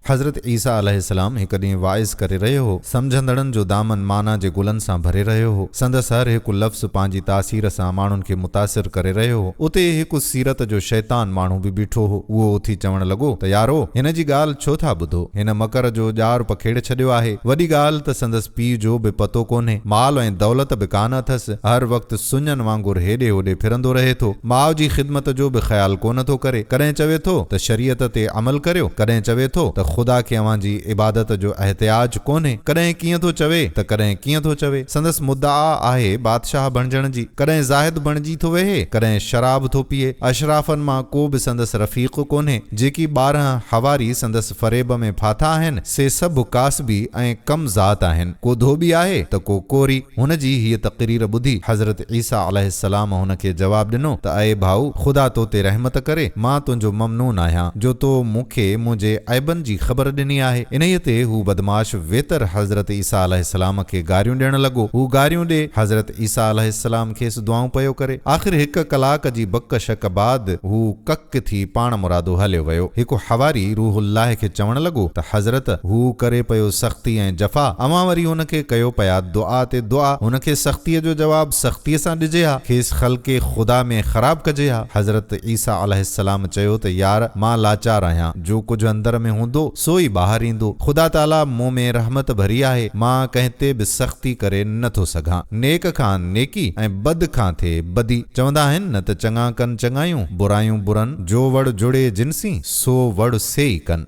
حضرت عيسيٰ عليه السلام هڪ ڏينهن واعظ ڪري رهيو هو. سمجهندڙن جو دامن معنيٰ جي گلن سان ڀري رهيو هو. سندس هر هڪ لفظ پنهنجي تاثير سان ماڻهن کي متاثر ڪري رهيو هو. اتي هڪ سيرت جو شيطان ماڻهو به بيٺو هو. اهو اٿي چوڻ لڳو ته يارو! هن جي ڳالهه ڇو ٿا ٻڌو؟ هن مڪر جو ڄار پکيڙي ڇڏيو آهي. وڏي ڳالهه ته سندس پيء جو به پتو ڪونهي. مال ۽ دولت به ڪانه اٿس. هر وقت سڃن وانگر هيڏي هوڏي ڦرندو رهي ٿو، ماء جي خدمت جو به خيال ڪونه ٿو ڪري، ڪڏهن چوي ٿو ته شريعت تي عمل ڪريو، ڪڏهن چوي ٿو ته خدا کي اوهان جي عبادت جو احتياج ڪونهي، ڪڏهن ڪيئن ٿو چوي ته ڪڏهن ڪيئن ٿو چوي، سندس مدعا آهي بادشاهه بڻجڻ جي، ڪڏهن زاهد بڻجي ٿو ويهي، ڪڏهن شراب ٿو پيئي، اشرافن مان ڪو به سندس رفيق ڪونهي، جيڪي ٻارهن حواري سندس. فريب ۾ ڦاٿا آهن، سي سڀ ڪاسبي ۽ ڪم ذات آهن. ڪو ڌوٻي آهي ته ڪو ڪوري. هن جي هيء تقرير ٻڌي، حضرت عيسيٰ عليه السلام هن کي جواب ڏنو ته اي ڀائو! خدا تو تي رحمت ڪري، مان تنهنجو ممنون آهيان، جو تو مون کي منهنجي عيبن جي خبر ڏني آهي. انهيء تي هو بدمعاش ويتر حضرت عيسيٰ عليه السلام کي گاريون ڏيڻ لڳو. هو گاريون ڏي، حضرت عيسيٰ عليه السلام کيس دعائون پيو ڪري. آخر هڪ ڪلاڪ جي بڪ شڪ بعد هو ڪک. ڪڪ ٿي پاڻ مرادو هليو ويو. هڪ حواري روح الله کي چوڻ لڳو ته حضرت! هو ڪري پيو سختي ۽ جفا، اوهان وري هن کي ڪيو پيا دعا تي دعا، هن کي سختيء جو جواب سختيء سان ڏجي ها، کيس خلق خدا ۾ خراب ڪجي ها. حضرت عيسيٰ عليه السلام چيو ته يار! مان لاچار آهيان، جو ڪجهه اندر ۾ هوندو، سو ئي ٻاهر ايندو. خدا تعاليٰ مون ۾ رحمت ڀري آهي، مان ڪنهن تي به سختي ڪري نه ٿو سگهان. نيڪ کان نيڪي ۽ بد کان ٿئي بدي. چوندا آهن نه ته چڱا ڪن چڱايون، برايون برن. جو وڙ جڙي جنسين، سو وڙ سيئي ڪن.